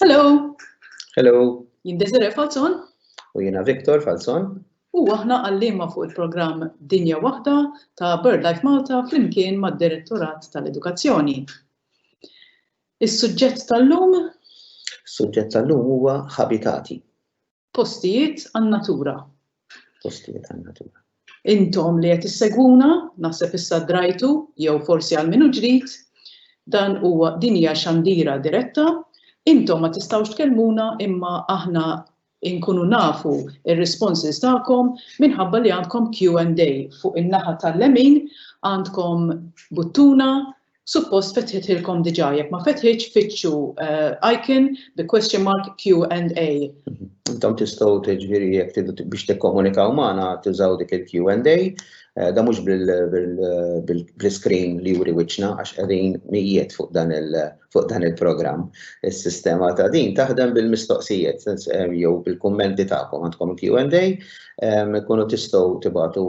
Hello. Hello. Jien Desiree Falzon. U jiena Victor Falzon. U aħna għallima fuq il-programm Dinja Waħda ta' BirdLife Malta flimkien mad-Direttorat tal-Edukazzjoni. Is-suġġett tal-lum? Is-suġġett tal-lum huwa ħabitati. Postijiet għan-natura. Postijiet għan-natura. Intom li qed issegwuna, naħseb issa drajtu jew forsi għal min hu ġdid, dan huwa din hija xandira diretta, intom ma tistgħux tkellmuna imma aħna inkunu nafu ir-responses tagħkom minħabba li għandkom Q&A. Fuq in-naħa tal-lemin għandkom buttuna Suppost fetħithilkom diġà, jekk ma fetħitx fittxu icon bi question mark Q and A. Intom tistgħu tiġifieri jekk tridu biex tikkomunikaw magħna tużaw dik il-Q and A. Da mhux bil-screen li juri wiċċna għax qegħdin mijiet fuq dan il-programm. Is-sistema ta' din taħdem bil-mistoqsijiet jew bil-kummenti tagħkom għandkom il-Q and A. Tkunu tistgħu tibagħtu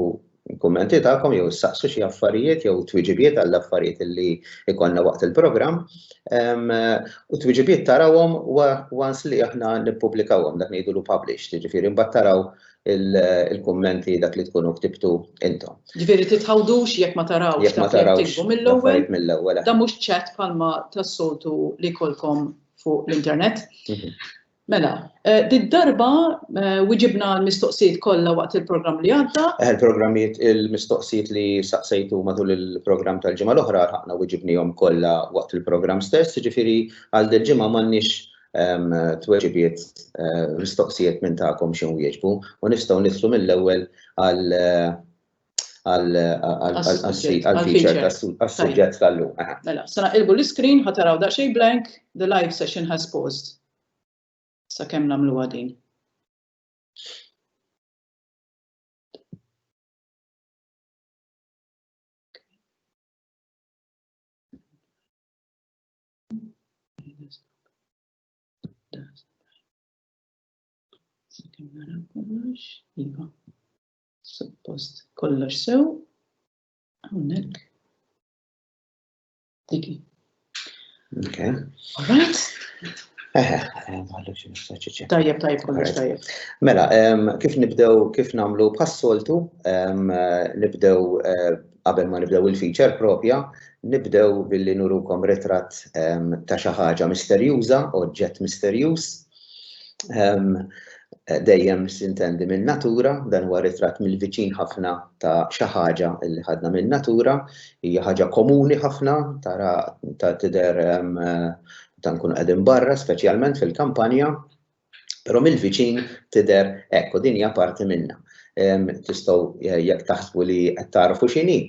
il-kummenti tagħkom jew issaqsu xi affarijiet jew twiġibiet għall-affarijiet li jkollna waqt il-programm. U twiġibiet tarawhom once li aħna nippubblikawhom dak ngħidulu publish, jiġifieri mbagħad taraw il-kummenti dak li tkunu ktibtu intom. Jiġifieri titħawdux jekk ma tarawx dak li tiktbu mill-ewwel. Dan mhux chat bħalma tas-soltu li jkollkom fuq l-internet. Mela, did-darba wiġibna għall-mistoqsijiet kollha waqt il-programm li għadda. Il-programmijiet, il-mistoqsijiet li saqsejtu matul il-programm tal-ġimgħa l-oħra lħaqna wiġibnihom kollha waqt il-programm stess, jiġifieri għal dil-ġimgħa m'għandniex tweġibiet mistoqsijiet minn tagħkom xi nwieġbu u nistgħu nidħlu mill-ewwel għal għal-feature għal-suġġett tal-lum. Mela, sena ilbu l-screen, ħataraw daqxej blank, the live session has paused. Sa kem namlu għadin. Sa kem naraw kollox, iva. Suppost kollox sew. Hawnhekk. Diki. Okay. All right. Eħe, għallu xie nistaċiċi. Tajjeb, tajjeb, kollox tajjeb. Mela, kif nibdew, kif namlu bħas-soltu, nibdew eh, qabel ma nibdew il-feature propja, nibdew billi nurukom retrat ta' xi ħaġa misterjuża, oġġett misterjuż, dejjem sintendi minn natura, dan huwa ritratt mill-viċin ħafna ta' xi ħaġa li ħadna minn natura, hija ħaġa komuni ħafna tara ta' tidher ta' nkunu qegħdin barra, speċjalment fil-kampanja, però mill-viċin tidher hekk u din hija parti minnha. Tistgħu eh, jekk taħsbu li qed tagħrfu x'inhi,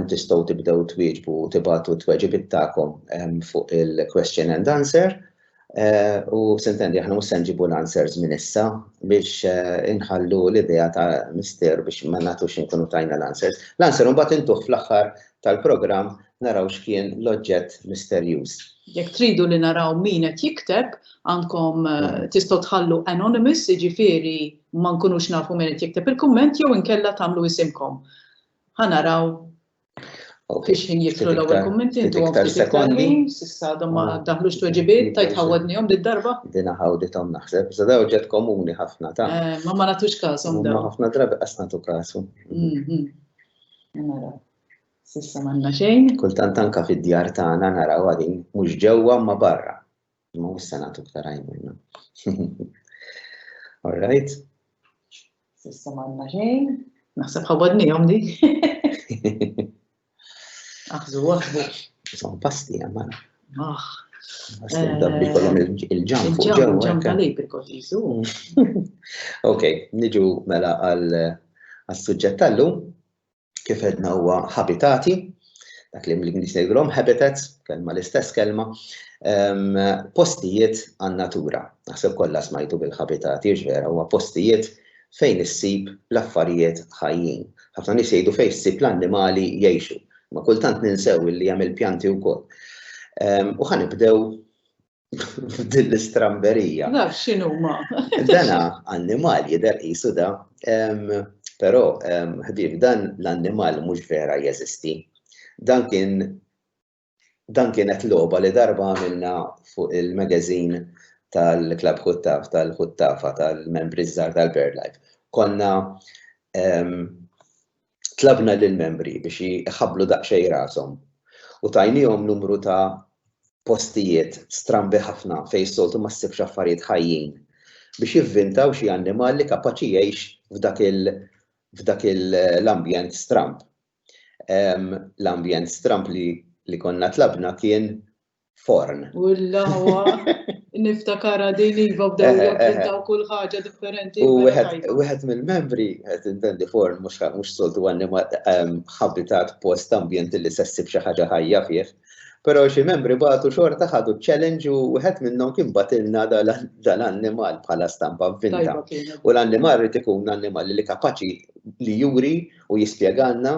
tistgħu tibdew twieġbu u tibatu t-tweġibiet tagħkom fuq il-question and answer Eh, u sintendi, aħna mhux se nġibu l-answers minn issa biex eh, inħallu l-idea ta' mister biex ma nagħtux inkunu tajna l-answers. L-answer mbagħad intuħ fl-aħħar tal-programm naraw x'kien l-oġġett misterjuż. Jekk tridu li naraw min qed jikteb, għandkom eh, mm. tistgħu tħallu anonymous, jiġifieri ma nkunux nafu min qed jikteb il-kumment jew inkella tagħmlu isimkom. Ħanaraw Biex ħin jitlu l-ewwel kummenti intu iktar sekondi. Sissa għadhom ma ah. daħlux tweġibiet, tajt ħawadnihom darba Dina ħawdithom naħseb, iżda daw ġed komuni ħafna ta'. Eh, ma ma nagħtux każhom daw. Ħafna drabi qas nagħtu każu. Mhm. Nara. Sissa m'għandna xejn. Kultant anka fid-djar tagħna naraw għadin mhux ġewwa ma barra. Ma mhux se nagħtu iktar għajnuna. All right. Sissa m'għandna xejn. Naħseb ħawadnihom di. Aħżu waħdu. Son pasti għamman. Aħ. Għastin eh, dabbi kolom il-ġam fuq ġew. Il-ġam tal-ejbri kol jizu. Ok, niġu mela għal-sujġet tal-lum. kif għedna huwa habitati, dak li mlin nisegrom habitats, kelma l-istess kelma, postijiet għan natura. Naħseb kollha smajtu bil-habitati, vera, huwa postijiet fejn issib l-affarijiet ħajjin. Ħafna nies jgħidu fejn issib l-annimali jgħixu, ma kultant ninsew li hemm il-pjanti wkoll. U ħanibdew Din l-istramberija. Naf xinu ma. Dana annimal jider jisu da, pero ħbib dan l-annimal mhux vera jeżisti. Dan kien dan kienet loba li darba għamilna fuq il-magazin tal-Klab Huttaf, tal-Huttafa, tal-membri żgħar tal-Bird Life. Konna tlabna lill-membri biex iħabblu daqsxejn rashom u tajniehom numru ta' postijiet strambi ħafna fejn s-soltu ma ssibx affarijiet ħajjin biex jivvintaw xi annimal li kapaċi jgħix f'dak il f'dak l-ambjent stramb. L-ambjent stramb li konna tlabna kien forn. U l-lawa, niftakara din iva b'daw eh, eh, eh. daw kull ħaġa differenti. U wieħed mill-membri, qed intendi forn mhux soltu għannima ehm, habitat post ambjent li se ssib xi ħaġa ħajja fih. Però xi membri bagħtu xorta ħadu challenge u wieħed minnhom kien batilna dal-annimal bħala stampa vinta. U l-annimal rid ikun annimal li kapaċi li juri u jispjegalna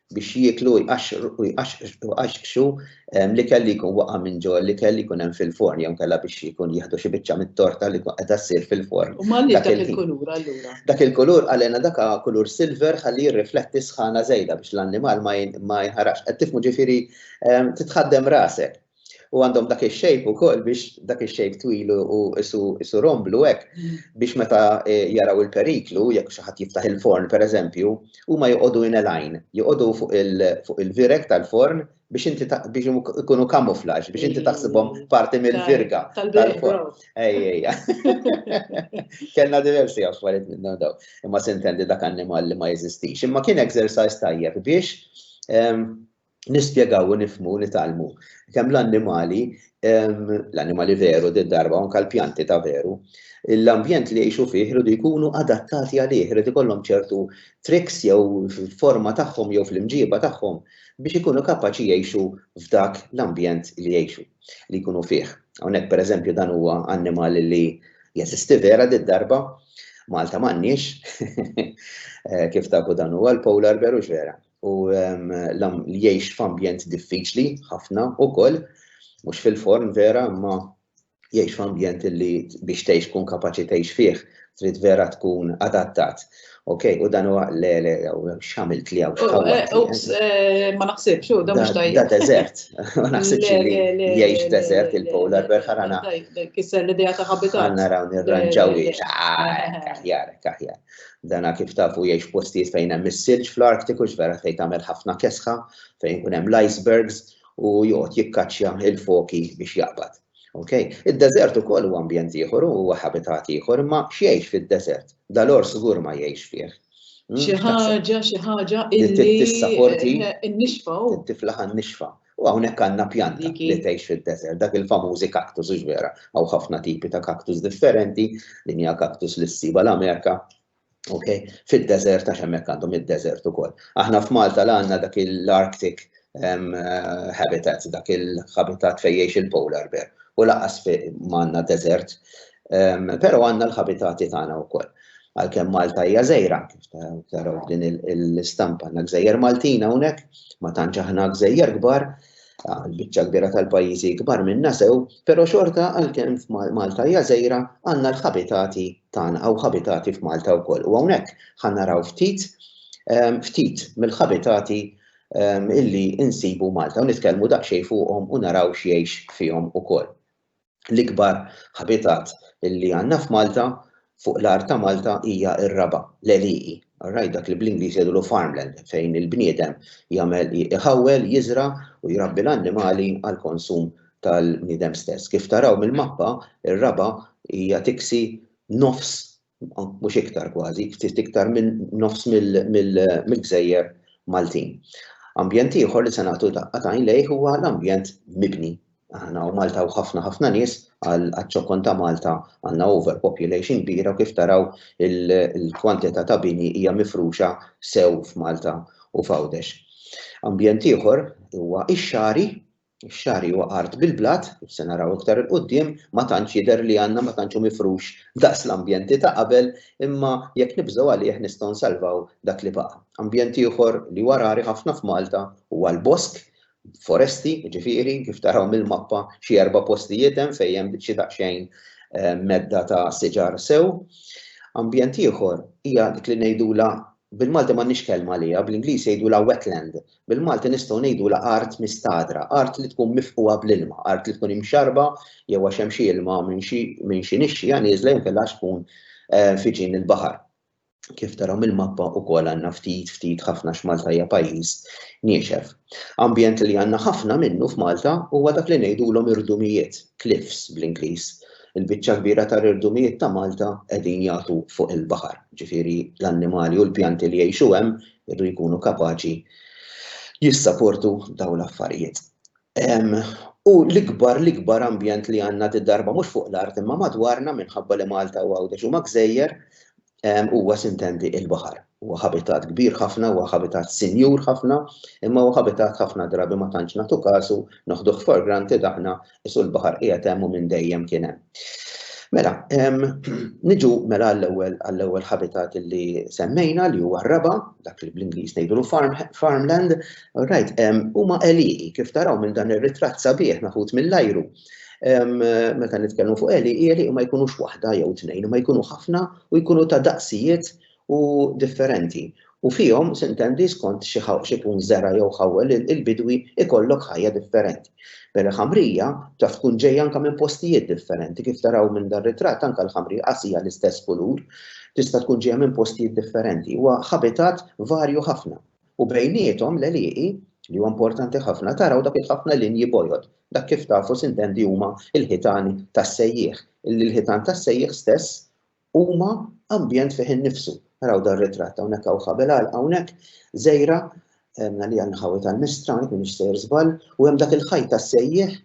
biex jieklu u jqaxqxu ehm, l-ikel li jkun waqa' minn ġo l-ikel li jkun hemm fil-forn jew kella biex jkun jieħdu xi biċċa mit-torta li qiegħda ssir fil-forn. U malli dak il-kulur allura? Dak il-kulur għalena dak kulur silver ħalli jirrifletti sħana żejda biex l-annimal ma jinħarax. Qed tifmu ġifieri ehm, titħaddem rasek. u għandhom dak ix-shape ukoll biex dak ix-shape twil u isu romblu hekk biex meta eh, jaraw il-periklu jekk xi ħadd jiftaħ il-forn pereżempju, huma joqogħdu in line, joqogħdu fuq il-virek tal-forn biex inti biex ikunu kamuflaġ, biex inti taħsibhom parti mill-virga tal-forn. Ejja. Kellna diversi affarijiet minnhom daw. Imma sintendi dak annimal li ma jeżistix. Imma kien exercise tajjeb biex ehm, nispjegaw u nifmu nitgħallmu kemm l-annimali l-annimali veru di darba anka l-pjanti ta' veru l-ambjent li jgħixu fih irridu jkunu adattati għalih, irid ikollhom ċertu triks jew forma tagħhom jew fl-imġiba tagħhom biex ikunu kapaċi jgħixu f'dak l-ambjent li jgħixu li jkunu fih. Hawnhekk pereżempju dan huwa annimal li jeżisti vera di darba Malta m'għandniex eh, kif tafu dan huwa l-polar bear u vera. u li jgħix f'ambjent diffiċli ħafna wkoll, mhux fil-forn vera, imma jgħix f'ambjent li biex tgħix tkun kapaċi tgħix fih, trid vera tkun adattat. Ok, u dan huwa le le x'għamilt li hawn x'ħawwat. Ups, ma naħsibx, u dan mhux tajjeb. Da deżert, ma naħsibx li jgħix deżert il-polar bear ħarana. Kisser l-idea ta' habitat. Ħarana raw nirranġaw li. Kaħjar, kaħjar. Dana kif tafu jgħix f'postijiet fejn hemm is-silġ fl-Arktiku x'vera fejn tagħmel ħafna kesħa, fejn ikun hemm l-icebergs u joqgħod jikkaċċja il-foki biex jaqbad. Okay? Id-deżert ukoll huwa ambjent ieħor u huwa habitat ieħor, imma x'jgħix fid-deżert? Dal-ors żgur ma jgħix fih. Hmm? Xi ħaġa, xi ħaġa illi. Tissa forti. Eh, nixfa. Tiflaħa nixfa. U hawnhekk għandna pjanta li tgħix fid-deżert, dak il-famużi kaktus hux vera, hawn ħafna tipi ta' kaktus differenti, din hija kaktus li ssiba l-Amerika, ok, fid-deżert għax hemmhekk għandhom id-deżert ukoll. Aħna f'Malta la għandna dak l-Arctic ehm, habitat, dak il-habitat fejn jgħix il-polar bear, u laqas ma għandna deżert, ehm, però għandna l-habitati tagħna wkoll. Għalkemm Malta hija gżejra, kif taraw f'din l-istampa, għandna gżejjer Maltin hawnhekk, ma tantx aħna gżejjer kbar, l-biċċa kbira tal-pajjiżi kbar minna sew, però xorta għalkemm Malta hija gżejra għandna l-ħabitati tagħna hawn ħabitati f'Malta wkoll. U hawnhekk ħa naraw ftit ehm, ftit mill-ħabitati ehm, illi insibu Malta u nitkellmu daqsxejn fuqhom u naraw x'jgħix fihom ukoll. L-ikbar habitat li għandna f'Malta, fuq l-art ta' Malta, hija r-raba', l-għelieqi, all right, dak li bl-Ingliż jgħidulu farmland, fejn il-bniedem jagħmel, iħawwel, jiżra' u jrabbi l-annimali għall-konsum tal-bniedem stess. Kif taraw mill-mappa, ir-raba' hija tiksi nofs mhux iktar kważi, ftit iktar minn nofs mill-gżejjer Maltin. Ambjent ieħor li se nagħtu daqqa tajn lejh huwa l-ambjent mibni. Aħna u Malta u ħafna ħafna nies għaċ-ċokon ta' Malta għandna overpopulation kbira u kif taraw il-kwantità ta' bini hija mifruxa sew f'Malta u f'Għawdex. Ambjent ieħor huwa x-xagħri Ix-xagħri huwa art bil-blat, kif se naraw iktar 'il quddiem, ma tantx jidher li għandna ma tantx hu mifrux daqs l-ambjenti ta' qabel, imma jekk nibżgħu għalih nistgħu nsalvaw dak li baqa'. Ambjent ieħor li huwa rari ħafna f'Malta huwa l-bosk, foresti jiġifieri, kif taraw mill-mappa xi erba' postijiet hemm fejn hemm xi daqsxejn medda ta' siġar sew. Ambjent ieħor hija dik li ngħidulha Bil-Malti m'għandniex kelma għaliha, bl-Ingliż jgħidulha wetland. Bil-Malti nistgħu ngħidulha art mistagħdra, art li tkun mifqugħa bl-ilma, art li tkun imxarrba jew għax hemm xi ilma minn xi minn xi nixxigħa nieżla jew inkella għax tkun fi ġnien il-baħar. Kif taraw mill-mappa wkoll għandna ftit, ftit ħafna għax Malta hija pajjiż niexef. Ambjent li għandna ħafna minnu f'Malta huwa dak li ngħidulhom irdumijiet, cliffs bl-Ingliż. Il-biċċa kbira tar-rirdumijiet ta' Malta qegħdin jagħtu fuq il-baħar, ġifieri l-annimali u l-pjanti li jgħixu hemm irdu jkunu kapaċi jissaportu dawn l-affarijiet. U l-ikbar l-ikbar ambjent li għandna di darba mhux fuq l-art imma madwarna minħabba li Malta u Għawdex huma gżejjer huwa sintendi il-baħar. Huwa ħabitat kbir ħafna, huwa ħabitat sinjur ħafna, imma huwa ħabitat ħafna drabi ma tantx nagħtu kasu, noħduh for granted aħna, qisu l-baħar qiegħed hemm u minn dejjem kien hemm. Mela, niġu mela għall-ewwel għall-ewwel ħabitat li semmejna li huwa r-raba, dak li bl-Ingliż ngħidulu farm, farmland, right, huma għelieqi kif taraw minn dan ir-ritratt sabiħ meħud mill-ajru meta nitkellmu fuq għeli, għeli ma jkunux waħda jew tnejn, ma jkunu ħafna u jkunu ta' daqsijiet u differenti, u fihom, sintendi, skont xi x'ikun żera' jew ħawwel il-bidwi ikollok ħajja differenti. Bere ħamrija taf tkun ġejja anke minn postijiet differenti, kif taraw minn dar-ritratt anke l-ħamrija qas hija l-istess kulur, tista' tkun ġejja minn postijiet differenti. Huwa ħabitat varju ħafna u bejniethom l-għelieqi, li huwa importanti ħafna, taraw dak il-ħafna linji bojod, dak kif tafu sintendi huma l-ħitan tas-sejjieħ, li l-ħitan tas-sejjieħ stess huma ambjent fih innifsu. Araw dan ritratt hawnhekk hawn ħabel għalqa hawnhekk, żejra, għemna li għanħawi tal-mistra, hawnhekk minix sejr żball, u hemm dak il-ħajt tas-sejjieħ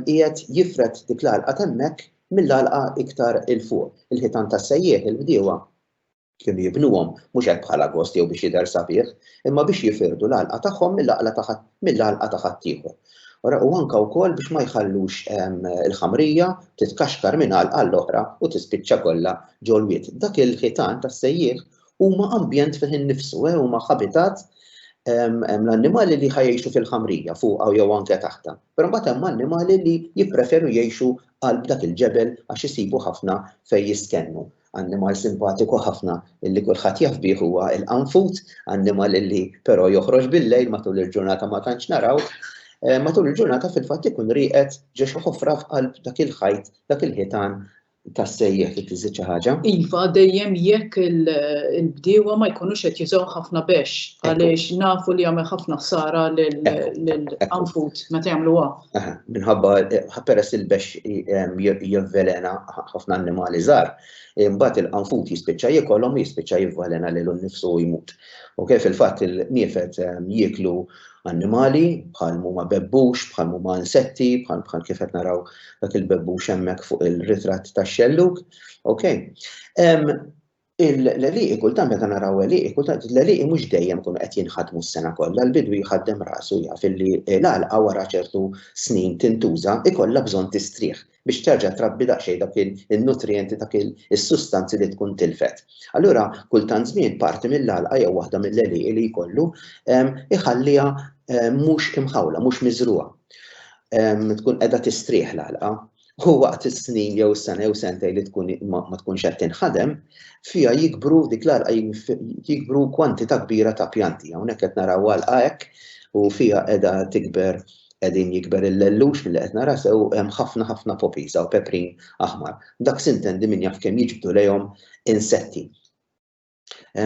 qiegħed jifred dik l-għalqa t'hemmhekk mill-għalqa iktar 'il fuq. Il-ħitan tas-sejjieħ il-bdiewa kienu jibnuhom mhux hekk bħala gost jew biex jidher sabiħ, imma biex jifirdu l-għalqa tagħhom mill-għalqa ta' mill-għalqa ta' ħaddieħor. Ora, u anke wkoll biex ma jħallux ehm, il-ħamrija titkaxkar minn għalqa għall-oħra u tispiċċa kollha ġol-wied. Dak il-ħitan tas-sejjieħ huma ambjent fih innifsu, eh, huma habitat ehm, ehm, l-annimali li ħajjexu fil-ħamrija fuqha jew anke taħta. Però mbagħad hemm annimali li jippreferu jgħixu qalb dak il-ġebel għax isibu ħafna fejn jiskennu. Annimal simpatiku ħafna li kulħadd jaf bih huwa l-qanfud, annimal li però joħroġ bil-lejl matul il-ġurnata ma tantx narawh. Matul il-ġurnata fil-fatt ikun rieqed ġo xi ħofra f'qalb dak il-ħajt, dak il-ħitan tas-sejjieħ trid iżżid xi ħaġa. Iva, dejjem jekk il-bdiewa ma jkunux qed jużaw ħafna bexx għaliex nafu li jagħmel ħafna ħsara lill-qanfud meta jagħmlu għaf. Aha, minħabba peress il-bexx jivvelena ħafna annimali żgħar, imbagħad il-qanfut jispiċċa jiekolhom jispiċċa jivvelena lilu nnifsu u jmut. U kif il-fatt il-niefed jieklu annimali bħal huma bebbux, bħal huma insetti, bħal bħal kif qed naraw dak il-bebbux hemmhekk fuq il-ritratt tax-xellug. Okay? Il-leliqi kultant meta naraw leliqi kultant il-leliqi mhux dejjem kunu qed jinħadmu s-sena kollha, l-bidwi jħaddem rasu jaf illi l-għalqa wara ċertu snin tintuża ikollha bżonn tistrieħ biex terġa' trabbi daqsxejn dawk in-nutrijenti dak is-sustanzi li tkun tilfet. Allura kultant żmien parti mill-għalqa jew waħda mill-leliqi li jkollu iħalliha mhux imħawla, mhux miżrugħa. Tkun qiegħda tistrieħ l-għalqa. u waqt is-snin jew is-sena jew sentej li tkun ma tkunx qed tinħadem, fiha jikbru dik l-għalqa jikbru kwantità kbira ta' pjanti. Hawnhekk qed naraw għalqa hekk u fiha qiegħda tikber qegħdin jikber il-lellux milli qed nara sew hemm ħafna ħafna poppies hawn peprin aħmar. Dak sintendi min jaf kemm jiġbdu lejhom insetti.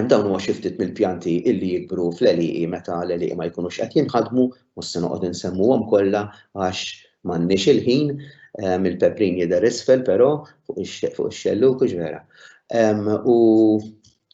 Dawn huma xi ftit mill-pjanti illi jikbru fl-għelieqi meta l-għelieqi ma jkunux qed jinħadmu, mhux se noqgħod insemmuhom kollha għax m'għandniex il-ħin, il-peprin jidher isfel però fuq ix-xellug hux vera. U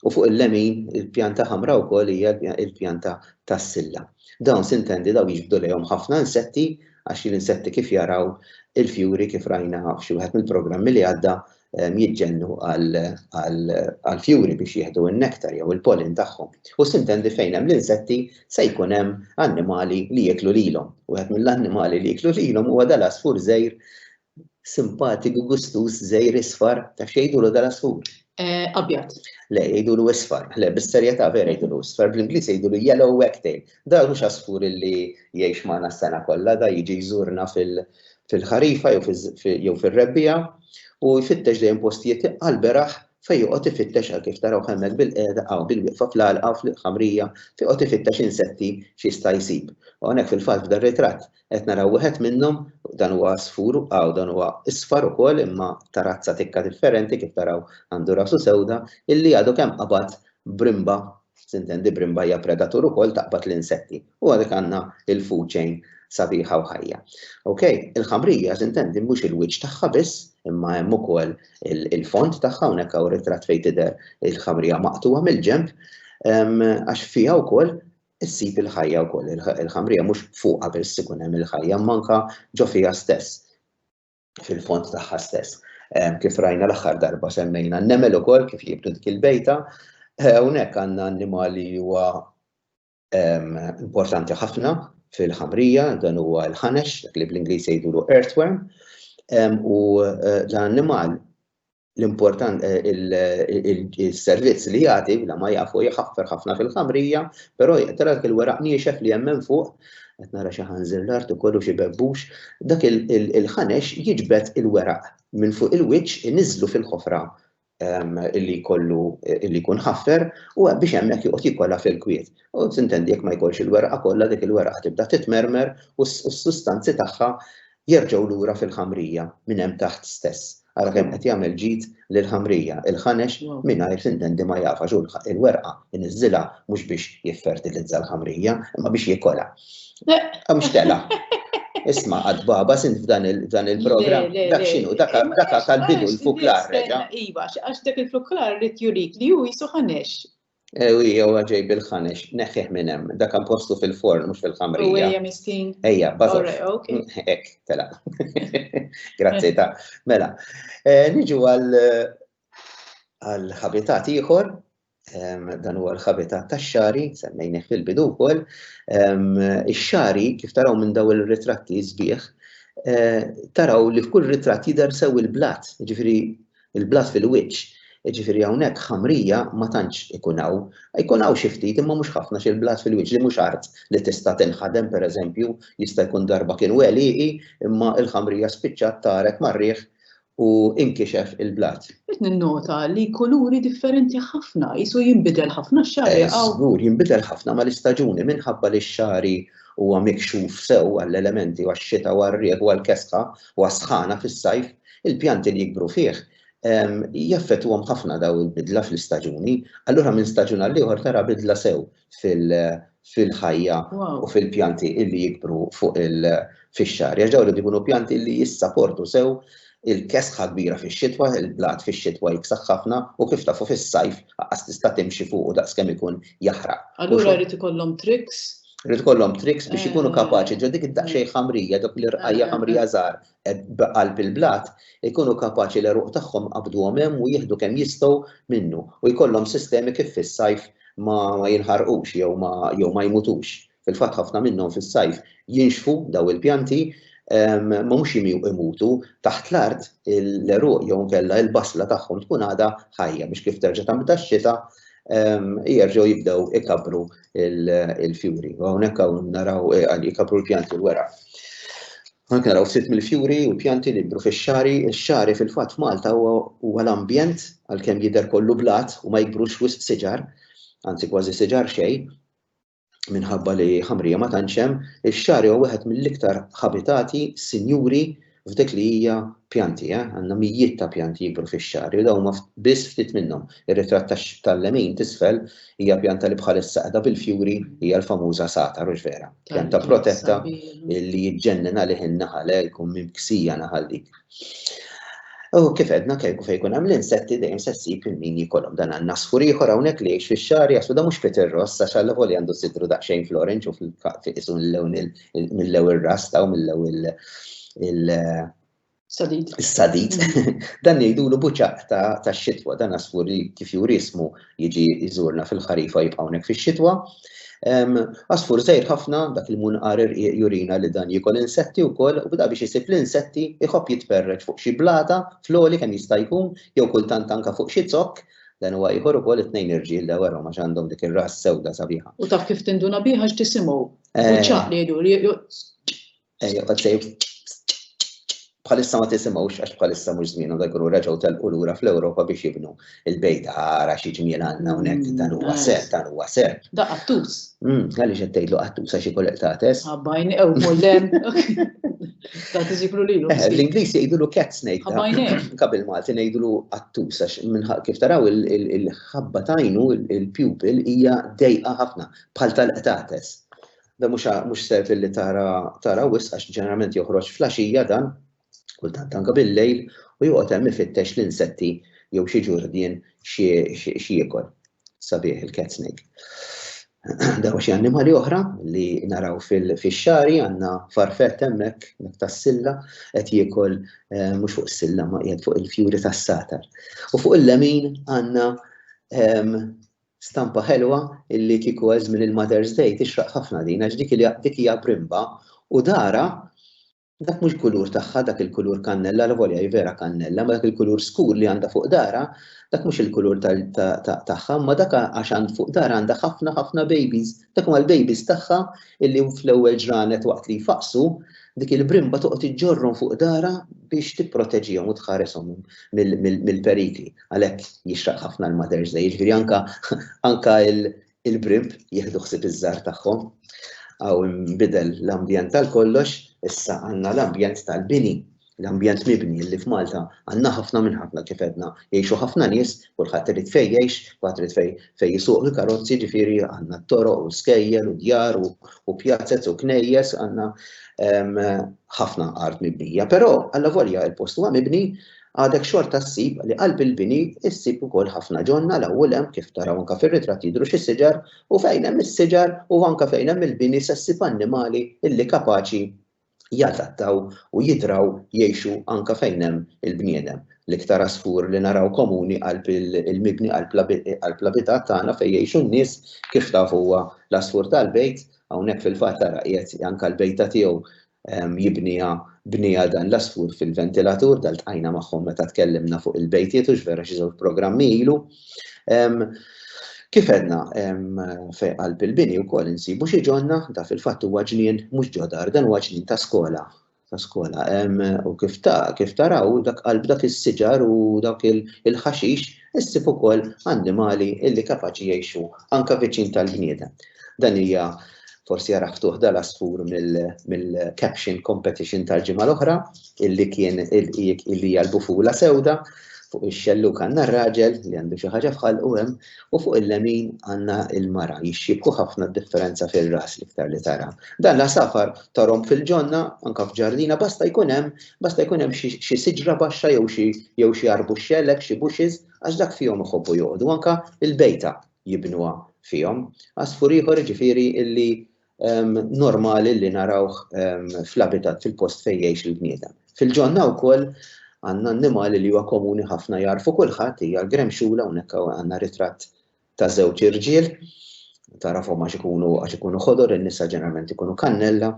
fuq il-lemin il-pjanta ħamra wkoll hija l-pjanta tas-silla. Dawn sintendi dawn jiġbdu lejhom ħafna insetti għax l-insetti kif jaraw il-fjuri kif rajna f'xi wieħed mill-programmi li għadda jiġġennu għall-fjuri biex jieħdu n-nektar jew il-pollen tagħhom. U sintendi fejn hemm l-insetti se jkun hemm annimali li jieklu lilhom. Wieħed mill-annimali li jieklu lilhom huwa dal-għasfur żgħir simpatiku gustuż żgħir isfar ta' xejdulu dal-għasfur. Eh, abjad. Le, jgħidulu isfar. Le, bis-serjetà vera jgħidulu isfar. Bl-Ingliż jgħidulu yellow wagtail. Da mhux għasfur li jgħix magħna s-sena kollha, da jiġi jżurna fil-ħarifa jew fir-rebbiegħa u jfittex dejjem postijiet għall-beraħ fejn joqgħod ifittex għal kif tarawh hemmhekk bil-qiegħda hawn bil-wieqfa fl-għalqa u fil-ħamrija fejn joqgħod ifittex insetti x'jista' jsib. U hawnhekk fil-fatt f'dan ritratt qed naraw wieħed minnhom, dan huwa għasfur hawn dan huwa isfar ukoll imma ta' razza tikka differenti kif taraw għandu rasu sewda illi għadu kemm qabad brimba Tintendi brimba hija predatur ukoll taqbad l-insetti u għalhekk għandna l-food chain sabiħa u ħajja. Ok, il-ħamrija tintendi mhux il-wiċċ tagħha biss imma hemm ukoll il-fond tagħha hawnhekk hawn ritratt fejn tidher il-ħamrija maqtugħa mill-ġenb għax fiha wkoll issib il-ħajja wkoll. Il-ħamrija mhux fuqha biss ikun hemm il-ħajja manka ġo fiha stess. fil-fond tagħha stess. Kif rajna l-aħħar darba semmejna n-nemel ukoll kif jibdu dik il-bejta, eh, hawnhekk għandna annimali huwa importanti ħafna fil-ħamrija, dan huwa l-ħanex, dak li bl-Ingliż jgħidulu earthworm, u eh, dan annimal l-important il-servizz li jagħti bla ma jafu jħaffer ħafna fil-ħamrija, però jaqtara dak il-weraq niexef li hemm minn fuq, qed nara xi ħanżir l-art ukoll u xi bebbux, dak il-ħanex jiġbed il-weraq minn fuq il-wiċċ iniżżlu fil-ħofra li jkollu li jkun ħaffer u biex hemmhekk joqgħod jikolha fil-kwiet. U tintendi jekk ma jkollx il-werqa kollha dik il-werqa tibda titmermer u s-sustanzi tagħha Jerġgħu lura fil-ħamrija minn hemm taħt stess. Ara kemm qed jagħmel ġid lill-ħamrija, il-ħanex mingħajr tintendi ma jaf għax hu l-werqa jniżżilha mhux biex jiffertilizza l-ħamrija, imma biex jikolha. Hawn x'tela'! Isma' għad baba sint f'dan il-programm, dak x'inhu, dak għad tal-bidu l-fuklar reġa'. Iva, għax dak il-fuklar rid jurik li hu qisu ħanex. Ewi, jewa ġej bil-ħanex, neħħih minn hemm. Dak hemm postu fil-forn, mhux fil-ħamrija. Ewi, hemm istin. Ejja, bażor. Hekk, tela. Grazzi ta. Mela, eh, niġu għal għal ħabitat ieħor, dan huwa l-ħabitat tax-xari, semmejnih fil-bidu wkoll. Ix-xari, kif taraw minn daw il-ritratti sbieħ, eh, taraw li f'kull ritratt jidher sew il-blat, ġifieri Il-blas fil-wiċċ, jiġifieri hawnhekk ħamrija ma tantx ikun hawn. Jkun hawn xi ftit imma mhux ħafna xi l-blas fil-wiċċ li mhux art li tista' tinħadem pereżempju jista' jkun darba kien wegħliqi imma l-ħamrija spiċċat taret mar-riħ u inkixef il-blas. Qed ninnota li kuluri differenti ħafna, qisu jinbidel ħafna x-xagħri hawn. Eh, żgur, jinbidel ħafna mal-istaġuni minħabba li x-xagħri huwa mikxuf sew għall-elementi u għax-xita u għar-riħ u għall-kesħa u għas-sħana fis-sajf, Il-pjanti li jikbru fih jaffettwhom ħafna dawn il-bidla fl-istaġuni, allura minn staġun għal ieħor tara bidla sew fil-ħajja u fil-pjanti li jikbru fuq il-fixxar. Għax dawn irid ikunu pjanti li jissaportu sew il-kesħa kbira fix-xitwa, il-blat fix-xitwa jiksaħ ħafna u kif tafu fis-sajf lanqas tista' timxi fuqu daqskemm ikun jaħraq. Allura jrid ikollhom tricks? Irid ikollhom tricks biex ikunu kapaċi ġo dik id-daqsxejn ħamrija, dawk l-irqajja' ħamrija żgħar b'qalb il-blat ikunu kapaċi l-għeruq tagħhom iqabbduhom hemm u jieħdu kemm jistgħu minnu u jkollhom sistemi kif fis-sajf ma jinħarqux jew ma jew ma jmutux. Fil-fatt ħafna minnhom fis-sajf jinxfu daw il-pjanti ma mhux imutu taħt l-art l-għeruq jew inkella l-basla tagħhom tkun għadha ħajja biex kif terġa' tibda x-xita jerġgħu jibdew ikabbru l-fjuri. U hawnhekk hawn naraw ikabbru l-pjanti l-weraq. Hawnhekk naraw ftit mill-fjuri u l-pjanti li jikbru fix-xagħri. Ix-xagħri fil-fatt f'Malta huwa huwa l-ambjent għalkemm jidher kollu blat u ma jikbrux wisq siġar, anzi kważi siġar xejn, minħabba li ħamrija ma tantx hemm, ix-xagħri huwa wieħed mill-iktar ħabitati sinjuri f'dik li hija pjanti, eh, għandna mijiet ta' pjanti jikbru fix-xagħri u dawn huma biss ftit minnhom. Ir-ritratt tax tal-lemin t'isfel Hija pjanta li bħalissa qiegħda bil-fjuri hija l-famuża sata hux vera? Pjanta protetta li jiġġennen għalih in-naħal eh, jkun mimksija naħal dik. U kif edna kieku fejn jkun hemm l-insetti dejjem se ssib il-min jikolhom dan għandna sfur ieħor hawnhekk li jgħix fix-xahar jasbu da mhux Peter Ross għax għal li għandu sidru daqsxejn florenċ u fil-qisu mill-lewn mill-lew ir-rasta u mill-lew Sadid. Sadid. Dan jgħidulu buċaq ta' xitwa, dan asfur li kif jurismu jiġi jżurna fil-ħarifa jibqa' hawnhekk fix-xitwa. Asfur żejr ħafna dak il-munqar jurina li dan jikol insetti wkoll u bda biex isib l-insetti iħobb jitperreġ fuq xi blata floli kemm jista' jkun jew kultant anka fuq xi zokk dan huwa ieħor ukoll it-tnejn irġiel li werhom għax għandhom dik ir-ras sewda sabiħa. U taf kif tinduna biha x'tisimgħu. Buċaq eh. li jgħidu Eh, joqgħod sejb bħalissa ma tisimgħux għax bħalissa mhux żmienu da jkunu reġgħu telqu lura fl-Ewropa biex jibnu il-bejta ara xi ġmiel għandna hawnhekk mm, dan huwa ser, dan huwa ser. Da qattus. Mm, għaliex qed tgħidlu qattus għax ikun qtates. Abbajn ew mollem. Ta' tiżiblu lilu. Eh, L-Ingliż jgħidulu cat snake. Abbajn Kabil Malti ngħidulu qattus għax minħaq kif taraw il-ħabba tajnu il-pupil hija dejqa ħafna bħal tal-qtates. Dan mhux mhux self illi tara tara wisq għax ġeneralment joħroġ flaxija dan, kultant anke bil-lejl u joqgħod hemm ifittex l-insetti jew xi ġurdien xi jiekol. Sabiħ il-cat snake. Daw xi annimali oħra li naraw fil-xari għandna farfett hemmhekk mek tas-silla qed jiekol eh, mhux fuq is-silla ma qiegħed fuq il-fjuri tas-satar. U fuq il-lemin għandna ehm, Stampa ħelwa illi kieku għal żmien il-Mother's Day tixraq ħafna din għax dik li dik hija brimba u darha dak mhux kulur tagħha dak il-kulur kannella lavolja hi vera kannella ma dak il-kulur skur li għandha fuq darha dak mhux il-kulur tagħha imma dak għax għand fuq darha għandha ħafna ħafna babies dak huma l-babies tagħha illi fl-ewwel ġranet waqt li jfaqqsu dik il-brimba toqgħod iġġorrhom fuq darha biex tipproteġihom u tħareshom mill-perikli. Għalhekk jixraq ħafna l-Mother's Day, jiġifieri anka anka il-brimp jieħdu ħsieb iż-żgħar tagħhom. Aw inbidel l-ambjent tal kollox, issa għandna l-ambjent tal-bini, l-ambjent mibni li f'Malta għandna ħafna minn ħafna kif edna jgħixu ħafna nies, kulħadd irid fejn jgħix, kulħadd irid fejn fejn jisuq il-karozzi, jiġifieri għandna t-toroq u skejjel u djar u pjazzez u knejjes għandna ħafna art mibnija. Però alla volja il-post huwa mibni Għadek xorta ssib li qalb il-bini ssib ukoll ħafna ġonna 'l hawn u 'l hemm kif taraw anke fir-ritratt jidhru xi siġar u fejn hemm is-siġar u anke fejn hemm il-bini se ssib annimali illi kapaċi jadattaw u jidraw jgħixu anke fejn hemm il-bniedem. L-iktar għasfur li naraw komuni qalb il-mibni qalb l-abitat tagħna fejn jgħixu n-nies kif taf huwa l-għasfur tal-bejt, hawnhekk fil-fatt ara qiegħed anke l-bejta tiegħu jibniha bniha dan l-għasfur fil-ventilatur, dan ltqajna magħhom meta tkellimna fuq il-bejtiet hux vera xi żewġ programmi ilu. Kif għedna fi qalb il-bini wkoll insibu xi ġonna, da fil-fatt huwa ġnien mhux ġo dar, dan huwa ġnien ta' skola, ta' skola. U kif taraw dak qalb dak is-siġar u dawk il-ħaxix, Issib ukoll annimali illi kapaċi jgħixu anke viċin tal-bniedem. Dan hija forsi jara ftuħ dal-asfur mill-caption competition tal-ġimgħa l-oħra illi kien illi hija l-bufula sewda fuq ix-xelluk għandna r-raġel li għandu xi ħaġa f'ħalqu hemm u fuq il-lemin għandna l-mara jixxibku ħafna d-differenza fir-ras l-iktar li tara. Dan l-għasafar tarhom fil-ġonna anke f'ġardina basta jkun hemm Basta jkun hemm xi siġra baxxa jew xi jew xi arbuxxelek, xi bushes, għax dak fihom iħobbu joqogħdu, anka l-bejta jibnuha fihom. Għasfur ieħor ġifieri illi ehm, normali li narawh ehm, fl-abitat fil-post fejn jgħix il-bniedem. Fil-ġonna wkoll għandna annimali li huwa komuni ħafna jarfu kulħadd hija l-gremxula hawnhekk għandna ritratt ta' żewġ irġiel tarafhom għax ikunu għax ikunu ħodor in-nisa ġeneralment ikunu kannella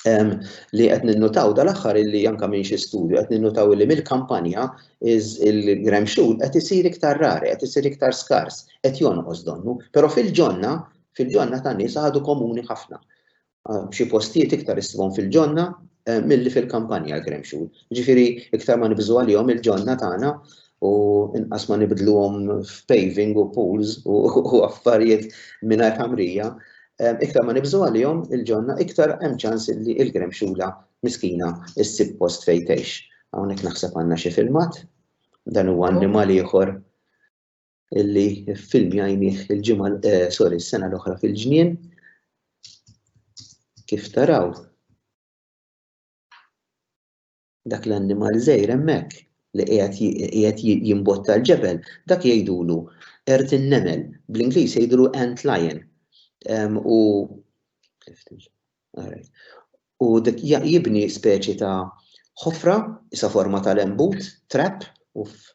li qed ninnutaw dal-aħħar illi anke minn xi studju qed ninnutaw illi mill-kampanja il-grem xhud qed isir iktar rari, qed isir iktar skars, qed jonqos donnu, però fil-ġonna, fil-ġonna ta' nies għadu komuni ħafna. B'xi postijiet iktar issibhom fil-ġonna milli fil-kampanja l-grem xhud. Ġifieri iktar ma nibżgħu għalihom il-ġonna tagħna u inqas ma nibdluhom f'paving u pools u affarijiet mingħajr ħamrija, iktar ma nibżgħu għalihom il-ġonna iktar hemm ċans li l-gremxula miskina ssib post fejn tgħix. Hawnhekk naħseb għandna xi filmat, dan huwa annimal ieħor illi film jajnih il-ġimgħa eh, sorry, s-sena l-oħra fil-ġnien. Kif taraw? dak l-annimal żgħir hemmhekk li qiegħed jimbotta l-ġebel, dak jgħidulu qert in-nemel, bl-Ingliż jgħidulu ant lion. U u dik jibni speċi ta' ħofra isa forma tal-embut, trap, uff.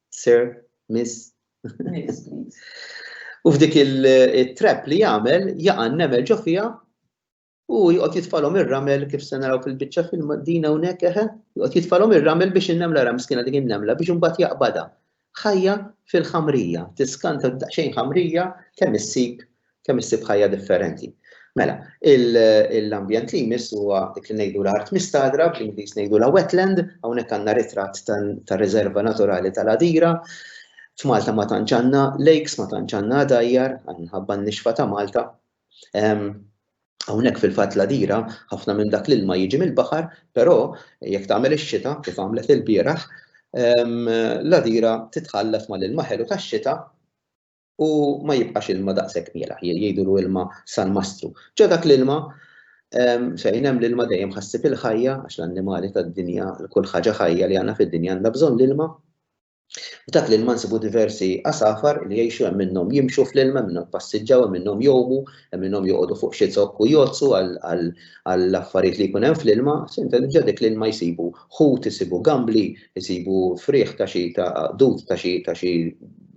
Sir, miss. Miss, please. U f'dik il-trap li jagħmel jaqa' nemel ġo fiha u jqgħod jitfalhom ir-ramel kif se naraw fil-biċċa film din hawnhekk eħe, jqgħod jitfalhom ir-ramel biex in-nemla ra miskina dik in-nemla biex imbagħad jaqbadha. Ħajja fil-ħamrija, tiskanta daqsxejn ħamrija kemm issib Kemm issib ħajja differenti. Mela, l-ambjent li jmiss huwa dik li ngħidu l-art mistadra, bl-Ingliż ngħidulha wetland, hawnhekk għandna ritratt tar-Riserva Naturali tal-Għadira. F'Malta ma tantx għandna lakes, ma tantx għandna dajjar, minħabba n-nixfa ta' Malta. Hawnhekk fil-fatt l-Għadira ħafna minn dak l-ilma jiġi mill-baħar, però jekk tagħmel ix-xita kif għamlet ilbieraħ, l-Għadira titħallat mal-ilma ħelu tax-xita u ma jibqax ilma daqshekk mielaħ, jgħidulu ilma sal-mastru. Ġo dak l-ilma fejn hemm l-ilma dejjem ħassib il-ħajja għax l-annimali tad-dinja, kull ħaġa ħajja li għandna fid-dinja għandha bżonn l-ilma. U dak l-ilma nsibu diversi għasafar li jgħixu hemm minnhom jimxu fl-ilma, minnhom passiġġaw, hemm minnhom jomu, hemm minnhom joqogħdu fuq xi zokk u jozzu għall-affarijiet li jkun hemm fl-ilma, sinta diġà dik l-ilma jsibu ħut, isibu gambli, jsibu frieħ ta' xi ta' dud ta' xi ta' xi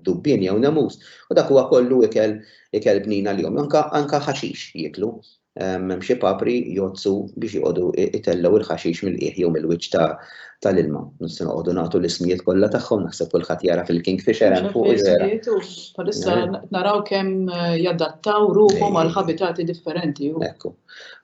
dubbien jew nemus, u dak huwa kollu ikel ikel bnin għalihom. Anka anka ħaxix jieklu. Hemm xi papri jgħoddsu biex joqogħdu itellgħu l-ħaxix mill-qiegħ jew mill-wiċċ ta' tal-ilma. Mhux se noqogħdu nagħtu l-ismijiet kollha tagħhom, naħseb kulħadd jara fil-kingfisher hemm fuq iżera. Bħalissa naraw kemm jadattaw ruħhom għal ħabitati differenti. Ekku.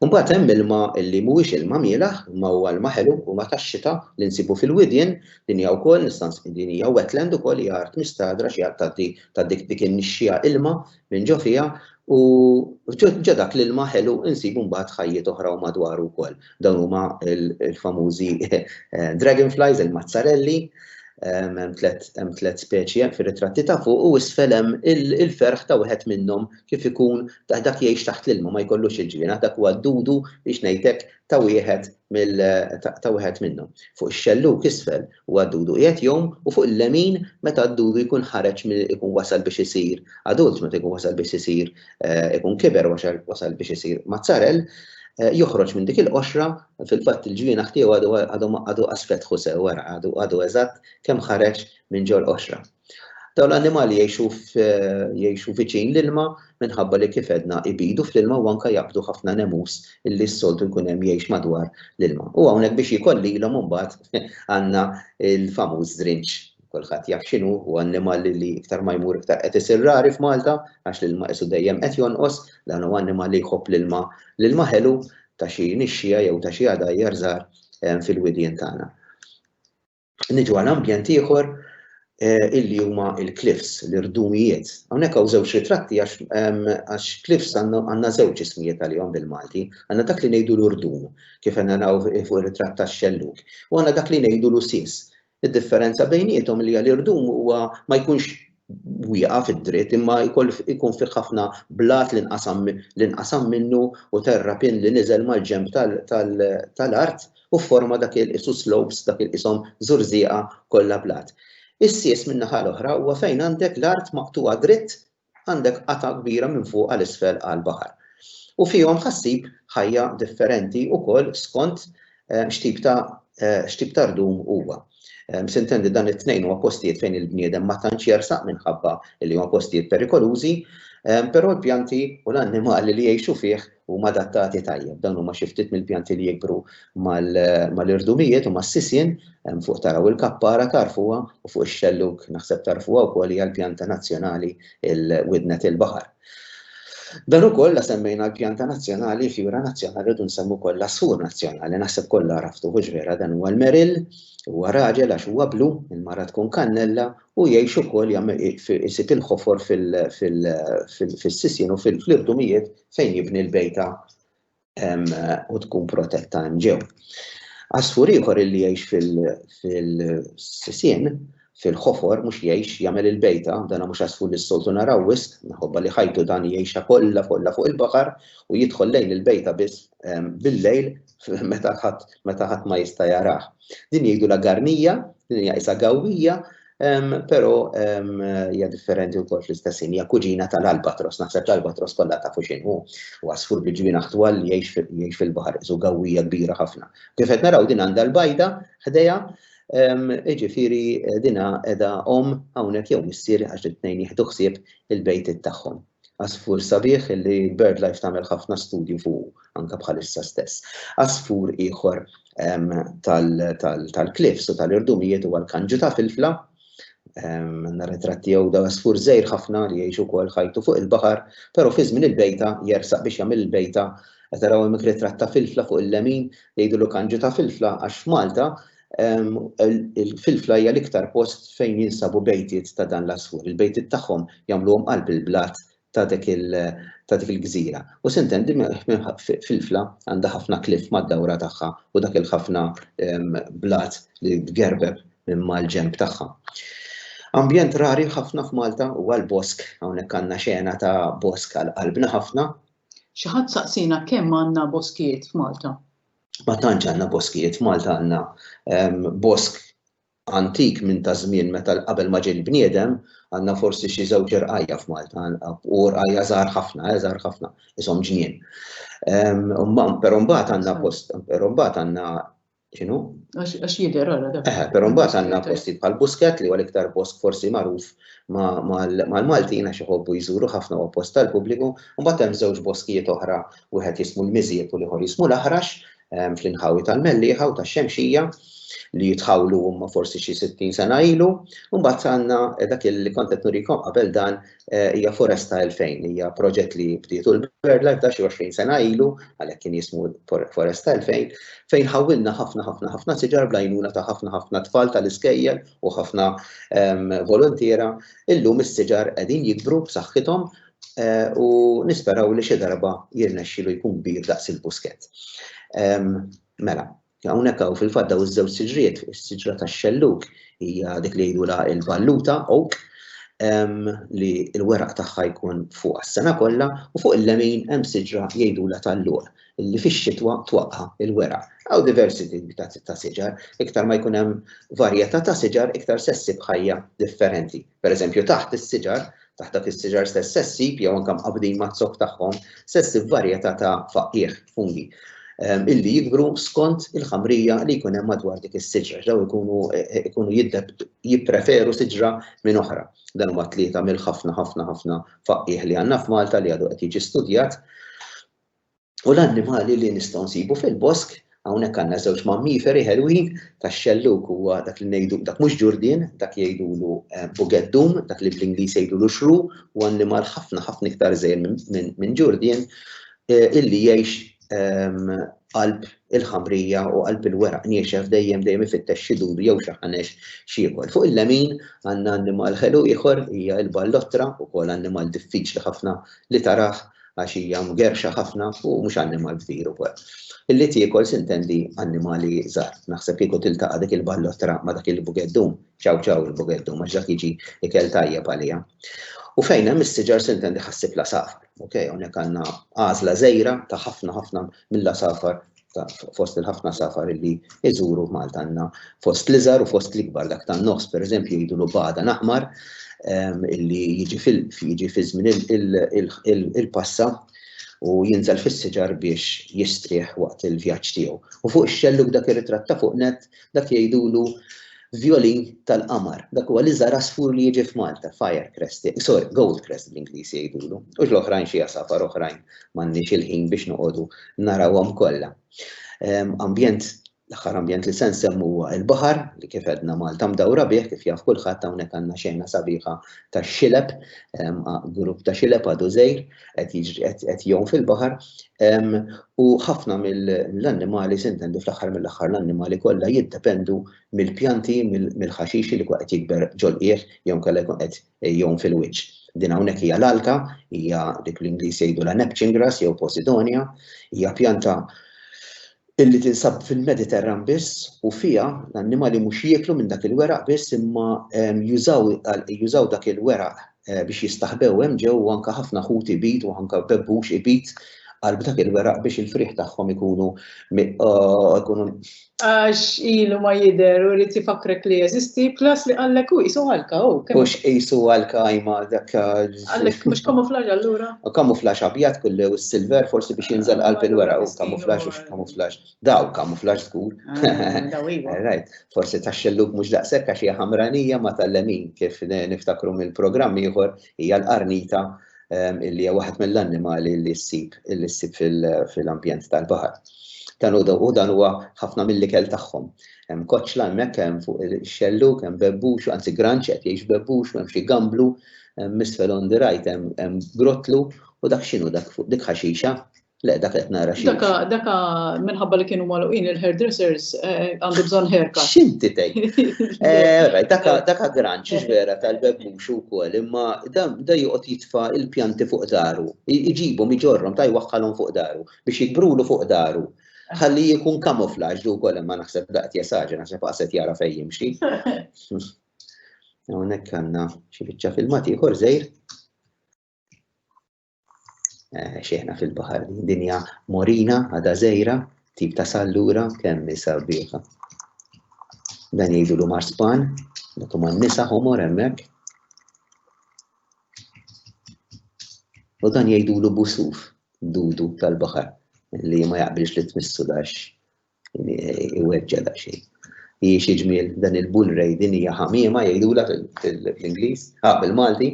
Mbagħad hemm ilma li mhuwiex ilma mielaħ, ma huwa ilma ħelu u ma tax-xita li nsibu fil-widien Din hija wkoll nista' din hija wetland ukoll hija art mistagħdra xi art tgħaddi ta' dik dik in-nixxija ilma minn ġo fiha u ġo dak l-ilma ħelu insibu mbagħad ħajjiet oħra u madwaru wkoll. Dawn huma l-famużi dragonflies, il-mazzarelli, hemm tliet speċi hemm fir-ritratti ta' fuq u isfel hemm il-ferħ ta' wieħed minnhom kif ikun dak jgħix taħt l-ilma ma jkollux il-ġwienaħ dak huwa d-dudu biex ngħidlek ta' wieħed mill ta' wieħed minnhom. Fuq ix-xellug isfel huwa d-dudu qiegħed jgħum u fuq il-lemin meta d-dudu jkun ħareġ mill ikun wasal biex isir adult meta jkun wasal biex isir ikun kiber wasal biex isir mazzarell joħroġ minn dik il-qoxra fil-fatt il-ġwienaħ tiegħu għadu għadu għadu qasfetħu sew wara għadu għadu eżatt kemm ħareġ minn ġol qoxra. Dawn l-annimali jgħixu viċin l-ilma minħabba li kif għedna ibidu fl-ilma u anke jaqbdu ħafna nemus illi s-soltu jkun hemm jgħix madwar l-ilma. U hawnhekk biex jikol lilhom imbagħad għandna l-famuż żrinġ. Kulħadd jaf x'inhu, u annimal li iktar ma jmur iktar qed isir rari f'Malta għax l-ilma qisu dejjem qed jonqos, dan huwa annimal li jħobb l-ilma, l-ilma ħelu ta' xi nixxija jew ta' xi għadajjar żgħar fil-widien tagħna. Niġu għal ambjent ieħor eh, illi huma il-cliffs, l-irdumijiet. Hawnhekk hawn żewġ ritratti għax ehm, cliffs għandna żewġ ismijiet għalihom bil-Malti. Għandna dak li ngħidu l-urdum, kif għandna naw fuq ir-ritratt tax-xelluk, u għandna dak li ngħidu l-usis. Id-differenza bejniethom li l-irdum huwa ma jkunx wieqaf id-dritt imma jkoll ikun fih ħafna blat li nqasam li nqasam minnu u terrapin li niżel mal-ġenb tal-art u fforma dak il-qisu slopes dak il-qishom żurżieqa kollha blat. Is-sies min-naħa l-oħra huwa fejn għandek l-art maqtugħa dritt għandek qatgħa kbira minn fuq għal isfel għall-baħar. U fihom ħassib ħajja differenti wkoll skont X'tip ta' x'tip ta' rdum huwa? Sintendi dan it-tnejn huma postijiet fejn il-bniedem ma tantx jersaq minħabba li huma postijiet perikolużi, però l-pjanti u l-annimali li jgħixu fih huma adattati tajjeb. Dawn huma xi ftit mill-pjanti li jikbru mal-irdumijiet u mas-sisien, hemm fuq taraw il-kappara tagħrfuha u fuq ix-xellug naħseb tagħrfuha wkoll hija l-pjanta nazzjonali il-widnet il-baħar. Dan ukoll la semmejna l-pjanta nazzjonali, fjura nazzjonali u nsemmu wkoll l-assur nazzjonali, naħseb kollha għraftu hux vera dan huwa l-meril, huwa raġel għax huwa blu, il-mara tkun kannella u jgħix ukoll jagħmel isib il-ħofor fil-sisien u fil-irdumijiet fejn jibni l-bejta u tkun protetta hemm ġew. Għasfur ieħor illi jgħix fil-sisien, fil-ħofor, mhux jgħix jagħmel il-bejta, dan mhux għasfur li s-soltu naraw wisq, minħabba li ħajtu dan jgħixha kollha kollha fuq il-baħar u jidħol lejn il-bejta biss bil-lejl meta ħadd ma jista' jarah. Din jgħidulha garnija, din hija qisha gawwija, Però hija differenti wkoll fl-istess hija kuġina tal-albatros, naħseb l-albatros kollha tafu x'in hu. Huwa sfur bi ġwienaħ twal li jgħix fil-baħar isu gawwija kbira ħafna. Kif qed naraw din għandha l-bajda ħdejha, jiġifieri dina qiegħda omm hawnhekk jew missier għax it-tnejn jieħdu ħsieb il-bejtiet tagħhom. Għasfur sabiħ li BirdLife tagħmel ħafna studju fuqu anke bħalissa stess. Għasfur ieħor tal-cliffs u tal-irdumijiet huwa l-kanġu ta' filfla. Għandna ritratt tiegħu da għasfur żgħir ħafna li jgħix ukoll ħajtu fuq il-baħar, però fi żmien il-bejta jersaq biex jagħmel il-bejta. Qed taraw hemmhekk ritratt ta' filfla fuq il-lemin, jgħidulu kanġu ta' filfla għax f'Malta Il-filfla hija l-iktar post fejn jinsabu bejtiet ta' dan l-għasfur. Il-bejtiet tagħhom jagħmluhom qalb il-blat ta' dik il-gżira. U Sint'Andy filfla għandha ħafna cliff mad-dawra tagħha u dak il-ħafna blat li tgerbeb minn mal-ġenb tagħha. Ambjent rari ħafna f'Malta huwa l-bosk, hawnhekk għandna xena ta' bosk għal qalbna ħafna. Xi ħadd saqsiena kemm għandna boskijiet f'Malta. ma tantx għandna boskijiet f'Malta għandna bosk antik minn ta' żmien meta qabel ma ġej il-bniedem għandna forsi xi żewġ irqajja f'Malta u rqajja żgħar ħafna, eh, żgħar ħafna, ishom ġnien. Però mbagħad għandna post, però mbagħad għandna xinu? Għax jidher għara dak. Eh, però mbagħad għandna posti bħal Busket li huwa l-iktar bosk forsi magħruf mal-Maltin għax iħobbu jżuru ħafna u post tal-pubbliku, mbagħad hemm żewġ boskijiet oħra wieħed jismu l-miżieb u l-ieħor jismu l-aħrax, fl-inħawi tal-Mellieħa u tax-Xemxija li jitħawlu huma forsi xi 60 sena ilu, u mbagħad għandna eh, dak li kont qed nurikom qabel dan eh, hija Foresta 2000, hija proġett li bdietu l-Berla ta' xi 20 sena ilu, għalhekk kien jismu Foresta 2000, fejn ħawilna ħafna ħafna ħafna siġar blajnuna ta' ħafna ħafna tfal tal-iskejjel u ħafna ehm, volontiera, illum is-siġar qegħdin jikbru b'saħħithom u nisperaw li xi darba jirnexxilu jkun kbir daqs il-Busket. Mela, hawnhekk hawn fil-fatt daw iż-żewġ siġriet, is-siġra tax-xellug hija dik li jgħidulha l-balluta oak li l-weraq tagħha jkun fuq għas-sena kollha u fuq il-lemin hemm siġra jgħidulha tal-lugħ li fix-xitwa twaqqa' il-weraq. Hawn diversi tipi ta' siġar, iktar ma jkun hemm varjetà ta' siġar iktar se ssib ħajja differenti Pereżempju, taħt is-siġar, taħt dak is-siġar stess se ssib jew anke mqabbdin maz-zokk tagħhom se ssib varjetà ta' faqqiegħ, fungi, ehm, illi jikbru skont il-ħamrija li jkun hemm madwar dik is-siġra. Daw ikunu e, e, ikunu jippreferu siġra minn oħra. Dan huma tlieta mill-ħafna ħafna ħafna faqqiegħ li għandna f'Malta li għadu qed jiġi studjat u l-annimali li nistgħu nsibu fil-bosk, hawnhekk għandna żewġ mammiferi ħelwin tax-xellug huwa dak li ngħidu dak mhux ġurdien, dak jgħidulu eh, bugeddum, dak li bl-Ingliż jgħidulu xru, u annimal ħafna ħafna iktar żejr minn ġurdien eh, illi jgħix ehm, qalb il-ħamrija u qalb il-weraq niexef dejjem dejjem ifittex xi dudu jew xi ħanex xiekol. Fuq il-lemin għandna annimal ħelu ieħor hija l-ballottra ukoll annimal diffiċli ħafna li taraħ għax hija mgerrxa ħafna u mhux annimal kbir ukoll. Illi tiekol sintendi annimali żgħar. Naħseb kieku tiltaqa' dik il-ballottra ma' dak il-bugeddum, ċaw ċaw il-bugeddum għax dak jiġi ikel tajjeb għaliha. U fejn hemm is-siġar sintendi ħassib l-għasafar. Ok, hawnhekk għandna għażla żgħira ta' ħafna ħafna mill-għasafar fost il-ħafna safar li iżuru Malta għandna fost l-iżar u fost l-ikbar dak tan nofs pereżempju jgħidu lu bada naħmar ehm, illi jiġi fil-jiġi fi żmien il-passa u jinżel fis-siġar biex jistrieħ waqt il-vjaġġ tiegħu. U fuq ix-xelluk dak ir-ritratt ta' fuq net Dak jgħidulu vjolin tal-qamar. Dak huwa l-iżgħar għasfur li jiġi f'Malta, fire crest, sorry, gold crest bl-Ingliż jgħidulu. U l-oħrajn xi għasafar oħrajn m'għandniex il-ħin biex noqogħdu narawhom kollha. Ehm, ambjent l-aħħar ambjent li se nsemmu huwa l-baħar li kif għedna Malta mdawra bih kif jaf kulħadd hawnhekk għandna xejna sabiħa tax-xileb, ehm, grupp ta' xileb għadu żgħir, qed jiġri qed jgħum fil-baħar u ħafna mill-annimali sintendi fl-aħħar mill-aħħar l-annimali kollha jiddependu mill-pjanti mill-ħaxixi li qed jikber ġolqieħ jew kellha jkun qed jgħum fil-wiċċ. Din hawnhekk hija l-alka, hija dik l-Ingliż jgħidu la napchin grass jew posidonia, hija pjanta illi tinsab fil-Mediterran biss u fiha l-annimali mhux jieklu minn dak il-weraq biss imma jużaw jużaw dak il-weraq biex jistaħbew hemm ġew u anke ħafna ħut ibid u anke bebbux ibid qalb dak il-weraq biex il-frieħ tagħhom ikunu jkunu Għax ilu ma jidher u jrid ifakrek li jeżisti, plus li qallek hu qisu għalka hu. Hux qisu għalka ajma dak Għalek, mux kamuflaġ allura? Kamuflaġ abjad kullu u silver forsi biex jinżel qalb il-wera u kamuflaġ u kamuflaġ. Daw kamuflaġ zgur. Ah, daw iwa. Right, forsi ta' xelluk mux daqsek għax hija ħamranija ma tal-lemin kif niftakru mill-programm ieħor hija l-qarnita ehm, illi hija waħed mill-annimali li ssib illi ssib fil-ambjent tal-baħar. Dan u dan huwa ħafna mill-ikel tagħhom. Hemm koċla hemmhekk hemm fuq il-xelluk, hemm bebbux, anzi granċet jgħix bebbux, hemm xi gamblu, Hemm isfel on the right hemm grottlu u dak x'inhu dak fuq dik ħaxixa? Le dak qed nara xi. Daka daka minħabba li kienu magħluqin il-hairdressers eh, għandu bżonn ħerka. X'inti tgħid? Eh, daka daka gran xiex vera tal-bebbux ukoll imma da joqgħod jitfa' il-pjanti fuq daru. Iġibhom iġorhom ta' jwaħħalhom fuq daru biex jikbrulu fuq daru ħalli jkun kamuflaġ du kol ma naħseb daqt jesaġa, naħseb għaset jara fejn jimxi. Hawnhekk għandna xi biċċa filmat ieħor żejr. Eh, xejna fil-baħar dinja morina għada żejra, tip ta' sallura kemm isa bieħa. Dan jgħidu l marspan, dak huma nisa homor hemmhekk. U dan jgħidu l busuf, dudu tal-baħar, li ma jaqbilx li tmissu dax Iweġġa daqsxejn. Hi xi ġmiel dan il-bull ray din hija ħamiema jgħidula fl-Ingliż, ħa bil-Malti.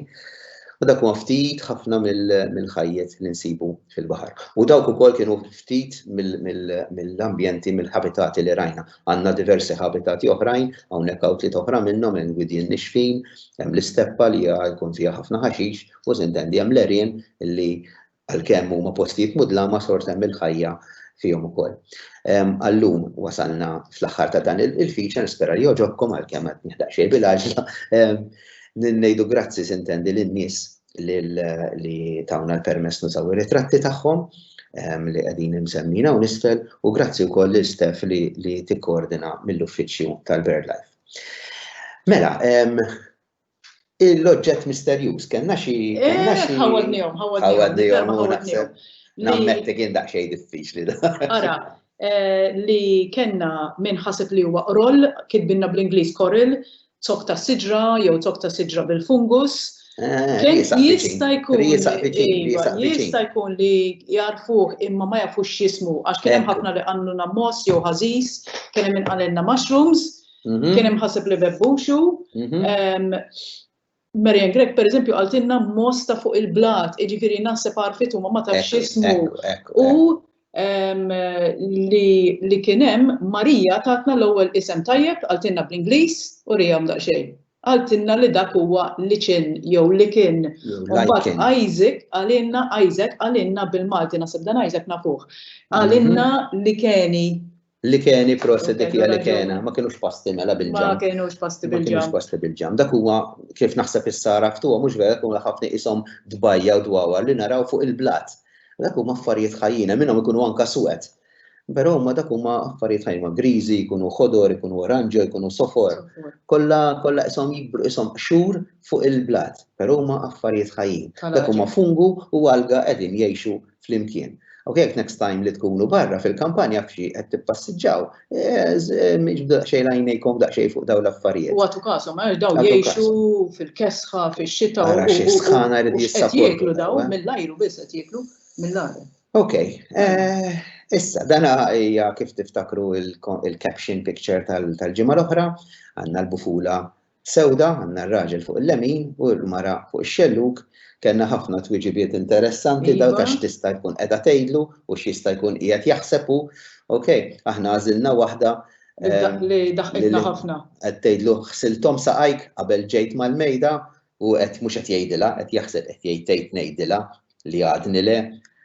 U dak huwa ftit ħafna mill-ħajjet li nsibu fil-baħar. U dawk ukoll kienu ftit mill-ambjenti, mill-ħabitati li rajna. Għandna diversi ħabitati oħrajn, hawnhekk hawn tliet oħra minnhom hemm gwidien nixfin, hemm l-isteppa li jkun fiha ħafna ħaxix u sintendi hemm l-għerien li Għalkemm huma postijiet mudlama xorta hemm il-ħajja fihom ukoll. Għal-lum wasalna fl-aħħar ta' dan il-feature, nispera li jogħġobkom għalkemm qed nieħu daqsxejn bil-għaġla. Ngħidu grazzi sintendi lin-nies li tawna l-permess nużaw ir-ritratti tagħhom li qegħdin imsemmin hawn isfel u grazzi wkoll lil Steph li tikkoordina mill-uffiċċju tal-BirdLife. Mela, L-oġġett misterjuż, kellna xi. Kellna xi. Ħawadnihom, ħawadnihom. Ħawadnihom. Nammetti kien daqsxejn diffiċli da. Ara, li kellna min ħaseb li huwa qroll, kitbinna bl-Ingliż coral, zokk ta' siġra jew zokk ta' siġra bil-fungus. Jista' jkun jista' jkun li jarfuh imma ma jafux x'jismu għax kien hemm ħafna li qalulna moss jew ħażiż, kien hemm min qalilna mushrooms, Mhm. Kien hemm ħaseb li bebbux hu. Mhm. Marian Grek, per eżempju, għaltinna mosta fuq il-blat, iġifiri naħseb għarfit u ma tafx ismu. U li kienem Marija tatna l-ewwel isem tajjeb għaltinna bl-Ingliż u rijam daqsxejn. Għaltinna li dak huwa li kien jew li kien. Mbagħad Isaac għalinna Isaac għalinna bil-Malti naħseb dan Isaac nafuh. Għalinna mhm. li keni Li keni proset dik hija li kena, ma kienux pasti mela bil-ġam. Ma kienux pasti bil-ġam. Ma kienux pasti bil-ġam. Dak huwa kif naħseb is-sara ftuha mhux vera kun ħafna ishom dbajja u dwawa li naraw fuq il-blat. Dak huma affarijiet ħajjina minnhom ikunu anka swed. Però huma dak huma affarijiet ħajma griżi, jkunu ħodor, jkunu oranġo, jkunu sofor. Kollha kollha ishom jibru ishom qxur fuq il-blat, però huma affarijiet ħajjin. Dak huma fungu u alga qegħdin jgħixu flimkien. Ok, jekk next time li tkunu barra fil-kampanja f'xi qed tippassiġġaw, xejn għajnejkom daqsxejn fuq dawn l-affarijiet. U għatu kasom, għax daw jgħixu fil-kesħa, fil-xita. Għara xi sħana jrid jissapportu. Jieklu daw, mill-ajru biss qed jieklu, mill-ajru. Ok, issa, dana hija kif tiftakru il-caption picture tal-ġimgħa l-oħra, għandna l-bufula Sewda, għandna r-raġel fuq il-lemin u l-mara fuq ix-xellug. Kellna ħafna twiġibiet interessanti dawn ta' x'tista' jkun qiegħda tgħidlu u x'jista' jkun qiegħed jaħseb hu. Ok, aħna għażilna waħda. Li daħqitna ħafna. Qed tgħidlu ħsilthom saqajk qabel ġejt mal-mejda u qed mhux qed jgħidilha, qed jaħseb qed jgħid tgħid ngħidilha. li għadni le.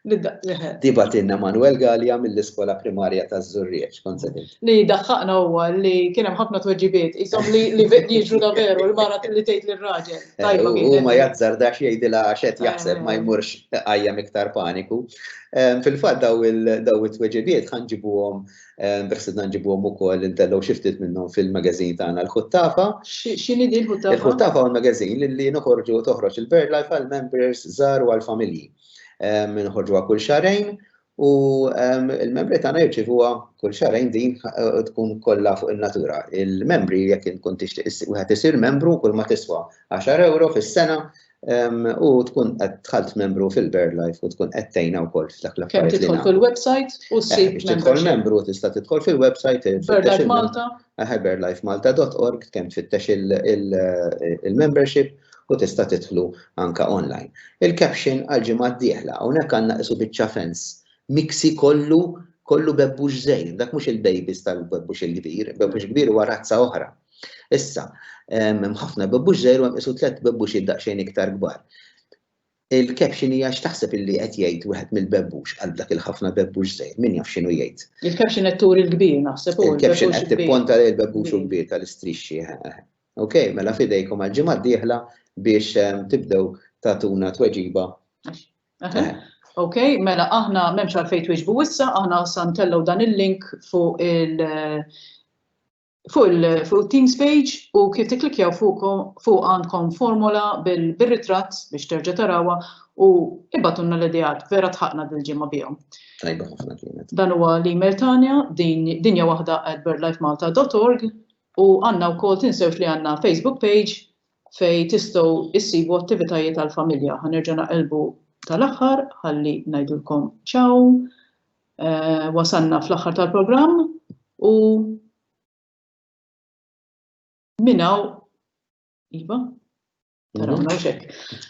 Di batinna Manuel Gallia mill-iskola primarja ta' Zurrieċ, kont se Li daħħaqna huwa li kien hemm ħafna tweġibiet, isom li li jiġru da veru l-mara li tgħid lir-raġel. Eh, u ma jazzardax jgħidilha għax qed jaħseb ma eh. jmurx qajjem iktar paniku. Eh, fil-fatt daw it-tweġibiet ħanġibuhom Beħsib nġibuhom ukoll intellgħu xi ftit minnhom fil-magazin tagħna l-Ħuttafa. X'inhi din l-Ħuttafa? Il-Ħuttafa huwa magazin li noħorġu toħroġ il-Bird Life għal members żgħar u għal familji. Nħorġuha kull xarejn u l-membri tagħna jirċivuha kull xarejn din tkun kollha fuq in-natura. Il-membri jekk inkun tixtieq wieħed isir membru kull ma tiswa 10 euro fis-sena U tkun qed tħalt membru fil-Bird Life u tkun qed tgħinha wkoll f'dak l Kemm tidħol fil-website u eh, ssib biex tidħol membru tista' tidħol fil-website Bird Life Malta. Aħe birdlifemalta.org kemm tfittex il-membership u tista' tidħlu anka online. Il-caption għal-ġimgħa d-dieħla hawnhekk għandna qisu biċċa fens miksi kollu kollu bebbux żejn, dak mhux il-babies tal-bebbux il-kbir, bebbux kbir huwa razza oħra. Issa, hemm ħafna bebbux żgħir u hemm isu tliet bebbux daqsxejn iktar kbar. Il-caption hija x'taħseb illi qed jgħid wieħed mill-bebbux għal dak il-ħafna bebbux żgħir, min jaf x'inhu jgħid. Il-caption qed turi l-kbir naħseb u l-caption qed tipponta lejn il-bebbux u l-kbir tal-istrixxi. Ok, mela fidejkom għal-ġimgħa d-dieħla biex tibdew tatuna tweġiba. Ok, mela aħna memx għalfej tweġbu issa, aħna santellu dan il-link fuq il- Fuq it-Teams page u kif tikklikkjaw fuqha għandkom formola bir-ritratt biex terġa' tarawha u ibgħatulna l-ideat, vera dħaqna dil-ġimgħa bihom. Tajba ħafna kienet. Dan huwa l-email tagħna, dinjawahda@birdlifemalta.org u għandna wkoll tinsewx li għandna Facebook page fejn tistgħu issibu attivitajiet għall-familja. Ħa nerġa' naqilbu tal-aħħar ħalli ngħidulkom ciao wasalna fl-aħħar tal-programm u minnaw iva tarawna u xek.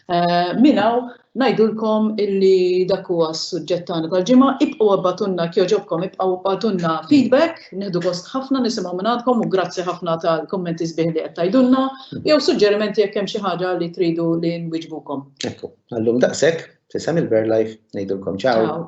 Eh, minnaw najdulkom illi dak huwa s-suġġett tagħna tal-ġimgħa, ibqgħu abbatunna kjoġobkom, ibqgħu abbatunna feedback, nieħdu gost ħafna nisimgħu minnatkom u grazzi ħafna tal-kommenti sbieħ li qed tajdulna, jew suġġerimenti jekk hemm xi ħaġa li tridu li nwiġbukom. Ekku, għallum daqshekk, tisem il-Bear Life, ngħidulkom ċaw.